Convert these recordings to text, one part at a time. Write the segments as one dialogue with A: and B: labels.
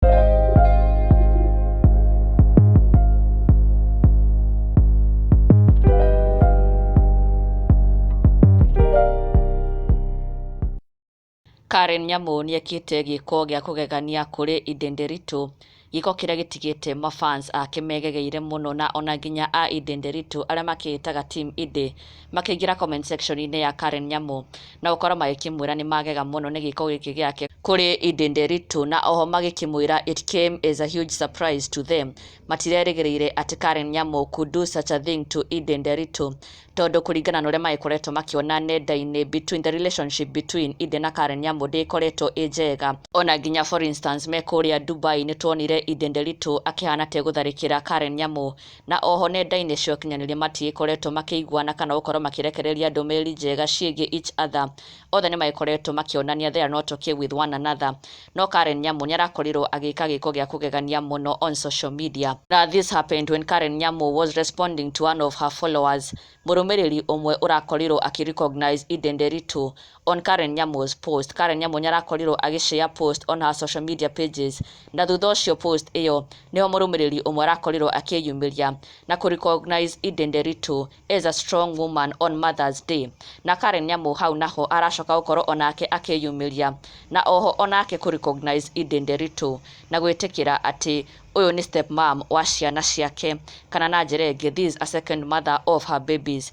A: Karen Nyamũ nĩekĩte gĩko gĩa kũgegania kũrĩ Inde Nderitu, gĩko kĩrĩa gĩtigĩte mafans ake megegeire mũno na ona nginya a Inde Nderitu arĩa makĩĩtaga team Inde makĩingĩra comment section inĩ ya Karen Nyamũ na gũkorwo magĩkĩmwĩra nĩ magega mũno nĩ gĩko gĩkĩ gĩake kũrĩ Eden Nderitu na oho magĩkĩmwĩra it came as a huge surprise to them matirerĩgĩrĩire atĩ Karen Nyamũ could do such a thing to Eden Nderitu tondũ kũringana na ũrĩa magĩkoretwo makĩona nenda-inĩ between the relationship between Eden na Karen Nyamũ ndĩkoretwo ĩ njega ona nginya for instance me kũrĩa Dubai nĩ tuonire Eden Nderitu akĩhana tegũtharĩkĩra Karen Nyamũ na o ho nenda-inĩ cia ũkinyanĩria matiĩkoretwo makĩiguana kana gũkorwo makĩrekereria ndũmĩrĩri njega ciĩgiĩ each other. Othe nĩmaĩkoretwo makĩonania there are not okay with one another. No Karen Nyamu nĩarakorirwo agĩka gĩĩko gĩa kũgegania mũno on social media. Na this happened when Karen Nyamu was responding to one of her followers. Mũrũmĩrĩri ũmwe ũrakorirwo akĩ recognize Eden Nderitu on Karen Nyamu's post. Karen Nyamu nĩarakorirwo agĩshare post on her social media pages na thutha ũcio post ĩyo nĩho mũrũmĩrĩri ũmwe arakorirwo akĩyumĩria na kũ recognize Eden Nderitu as a strong woman on Mother's Day na Karen Nyamu hau naho aracoka gũkorwo onake akĩyumĩria na oho onake kũ recognize Eden Nderitu na gwĩtĩkĩra atĩ ũyũ nĩ step mom wa ciana ciake kana na njĩra ĩngĩ this is a second mother of her babies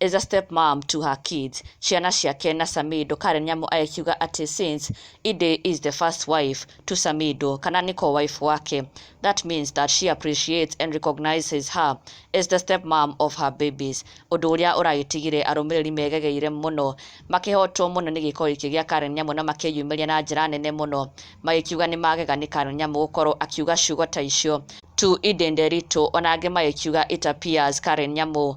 A: as a step mom to her kids ciana ciake na Samido Karen Nyamu agĩkiuga atĩ since Ide is the first wife to Samido kana nĩko wife wake that means that she appreciates and recognizes her as the step mom of her babies ũndũ ũrĩa ũragĩtigire arũmĩrĩri megegeire mũno makĩhotwo mũno nĩ gĩko gĩkĩ gĩa Karen Nyamu na makĩyumĩria na njĩra nene mũno magĩkiuga nĩ magega nĩ Karen Nyamu gũkorwo akiuga ciugo ta icio to Ide Nderitu ona angĩ magĩkiuga it appears Karen Nyamu